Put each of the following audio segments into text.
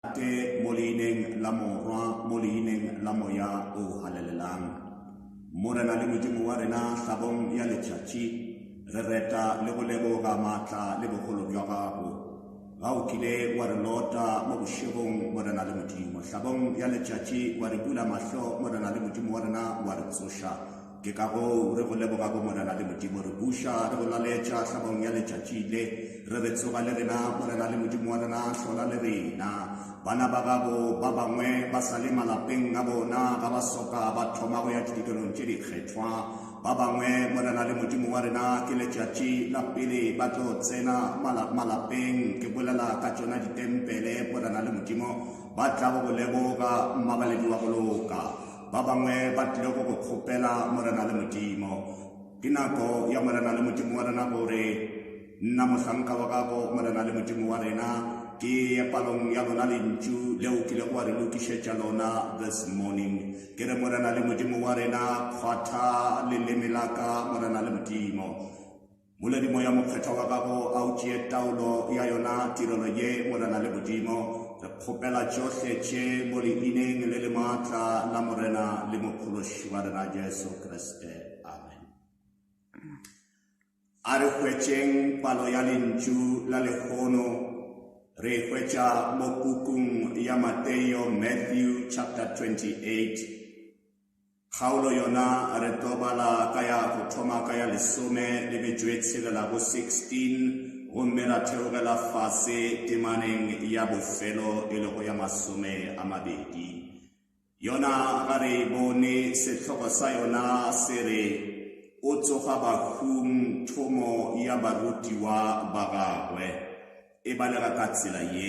Tate, mo leineng la Morwa, mo leineng la Moya o Halalelang. Morena le Modimo wa rena, hlabong ya letšatši, re reta le go leboga maatla le bogolo bja gago. Ga o kile wa re lota mo bošegong, Morena le Modimo. Hlabong ya letšatši wa re bula mahlo, Morena le Modimo wa rena, wa re tsoša. Ke ka goo re go leboga go Morena le Modimo, re buša, re go laletša hlabong ya letšatši le, re re, Tsoga le rena, Morena le Modimo wa rena, hlola le rena. Bana ba gago ba bangwe ba sa le malapeng a bona, ga ba soka ba thoma go ya ditukelong tše dikgethwa. Ba bangwe, Morena le Modimo wa rena, ke letšatši la pele ba tlo tsena mala- malapeng, ke bolela ka tšona ditempele, Morena le Modimo, ba tlago go leboga mmabaledi wa go loka. Ba bangwe ba tlile go go kgopela Morena le Modimo. Ke nako ya Morena le Modimo wa rena gore nna mohlanka wa gago Morena le Modimo wa rena ke ye palong ya lona lentšu leo kile go wa re lokišetša lona this morning ke re Morena le Modimo wa rena kgwatha leleme la ka Morena le Modimo Moledi Moya Mokgethwa wa gago a o tšee taolo ya yona tirelo ye, Morena le Modimo. Re kgopela tšohle tše mo Leineng le le maatla la Morena le Mophološi wa rena Jesu Kriste. Amen. A re hwetšeng palo ya lentšu la lekgono re e hwetša mo pukung ya Mateo, Matthew chapter 28. Kgaolo yona re tlo bala ka ya go thoma ka ya lesome le metšoetshelela bo 16 gomme ra theogela fase temaneng ya bofelo e lego ya masome a mabedi. Yona ga re e bone, sehloko sa yona se re o tsoga bahung thomo ya barutiwa ba gagwe. E balega ka tsela ye.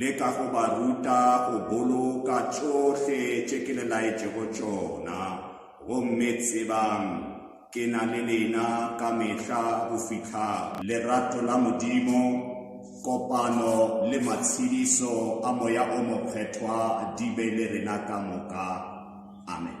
Leka go ba ruta go boloka tšohle tše ke le laetšego tšona, gomme tsebang ke na le lena ka mehla go fihla. Lerato la Modimo, kopano le matshediso a Moya o Mokgethwa di be le rena ka moka. Amen.